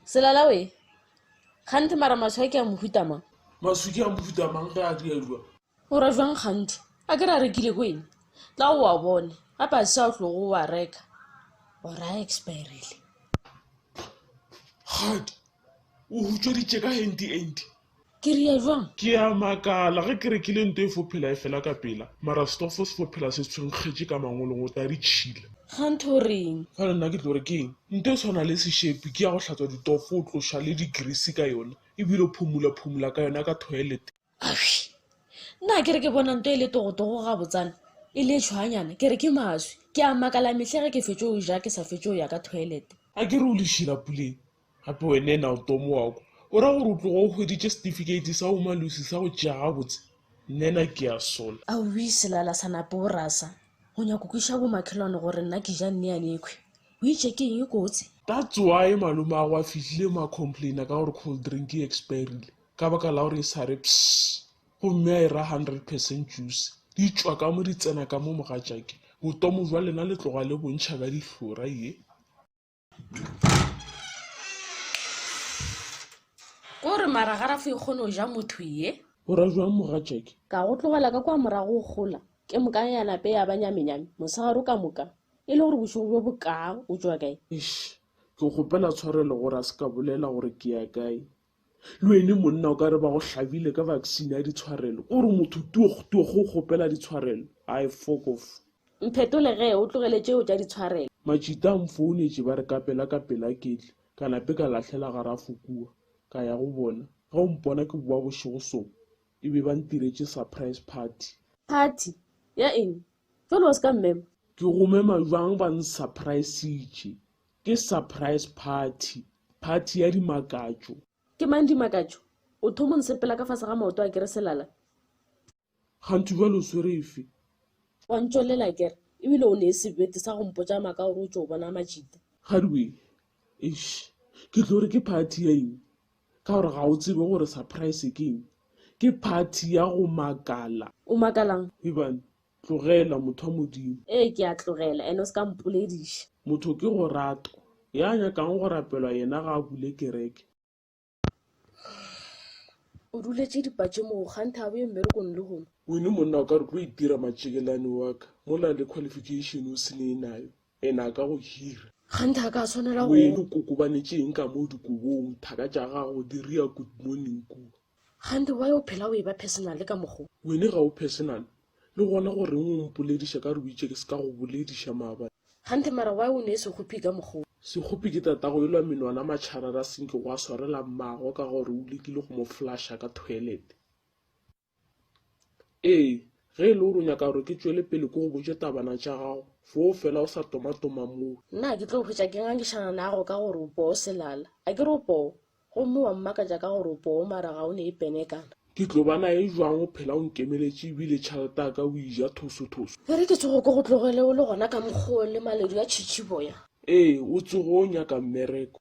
Selala we, kganthe mara maswi a ke a mohuta mang? Maswi ke a mohuta mang ge a dirwa? O ra jwang kganthe? A ke re a rekile ko eng? Tla o a bone, gape a se a o tlogo o a reka or a expirile. Kgadi, o hutsweditše ka henti enti. Ke rile bjang? Ke a makala, ge ke re ke le nto e fo phela e fela ka pela, mara stofo se fo phela se tshwenkgetše ka mangolong, o tla di tšhila. Ga ntho o reng? Bjale nna ke tlo re ke eng? Nto e tshwana le sešepi, ke ya go hlatswa ditofo, o tloša le digrisi ka yona, e bile o phumula-phumula ka yona ka toilet. Awii! Na ke re ke bona nto e le togotogo gabotsana, e le tšhwaanyana, ke re ke maswi. Ke a makala mehla ge ke fetše go ja ke sa fetše go ya ka toilet. A ke re o lešila puleng? Gape wena ena o tomo wa kwa, o ra gore o tloga o hweditše setifikeiti sa bomalusi sa go tšea gabotse? Nena ke a sola. Aowii Selala sa napa o rasa, o nyaka go kwešiša bomakhelwane gore nna ke ja nneane ekhwi o itše ke eng e kotsi? That's why malomagwe a fihlile mo a complaina ka gore cold drink e expirile ka baka la gore e sa re pss gomme a e ra hundred percent juice. Di tšwa ka mo di tsena ka mo mogatšake. Botomo bja lena le tloga le bontšha ka dihlora ye. ko re maragarafo e kgone go ja motho ye o ra jwang mogatšake ka go tlogela ka kwa morago go gola ke moka ya nape ya ba nyamenyame mosegaro ka moka e le gore bošego bjo bokaa o tšwa kae ish ke kgopela tshwarelo gore a se ka bolela gore ke ya kae Le wene monna o ka re ba go hlabile ka vaccine ya ditshwarelo ko gore motho tuoh tuoh o kgopela ditshwarelo ai fokof. Mphetole ge o tlogele tšeo tša ditshwarelo. Matšita a mfounetše ba re ka pela ka pela ketle ka nape ka lahlela ga rafo kua ka ya go bona ge o mpona ke boa bošego so e be ba ntiretše surprise party. Party? Ya eng? Jwale wa se ka mmema? Ke go mema bjang ba nsurprisitše Ke surprise party, party ya dimakatšo. Ke mang dimakatšo? O thomo nsepela ka fase ga maoto a kere selala. Kganthi bjalo o swere efe? Wa ntšwelela kere, ebile o nee sebete sa go mpotša maka gore o tšo bona majita. Kgadiwe, eish, ke tlo re ke party ya eng? Ka gore ga o tsebe gore surprise ke eng? Ke party ya go makala. O makalang? Ebane. Tlogela, motho wa Modimo. Ee, ke a tlogela, and o se ka mpolediša. Motho ke go rato. Ya nyakang go rapelwa yena ga a bule kereke. O duletše dipatše moo, kganthe a boye mmerekong lehono. Wine monna o ka re tlo itira matšekelane wa ka, mola le qualification o se ne e nayo. Ena a ka go hira. Gante a ka swanela go. Moyeni o kokobanetše eng ka moo dikobong? Thaka tša gago di ria good morning kua. Gante why o phela o e ba personal ka mokgo. Wene ga o personal. Le gona goreng o mpolediša ka re o itše ke se ka go bolediša maabane. Gante mara why o ne sekgophi ka mokgo. Sekgophi ke tatago elwa menwana matšharara senke gwa swarela mmago ka gore o lekile go mo flasha ka toilet. Ee, ge e le gore o nyaka gore ke tšwele pele ke go botše tabana tša gago, foo fela o sa tomatoma moo. Na ke tlo hwetša ke ngangišana nago ka gore o poo selala? A ke re o poo? Gomme wa mmakatša ka gore o poo mara ga o ne e pene kana? Ke tlo ba nae jwang o phela o nkemeletše ebile tšhalete ya ka o e ja thosothoso? E re ke tsoge ke go tlogele o le gona ka mokgwa o le maledu a tšhitšhiboya? Ee, o tsoge o nyaka mmereko.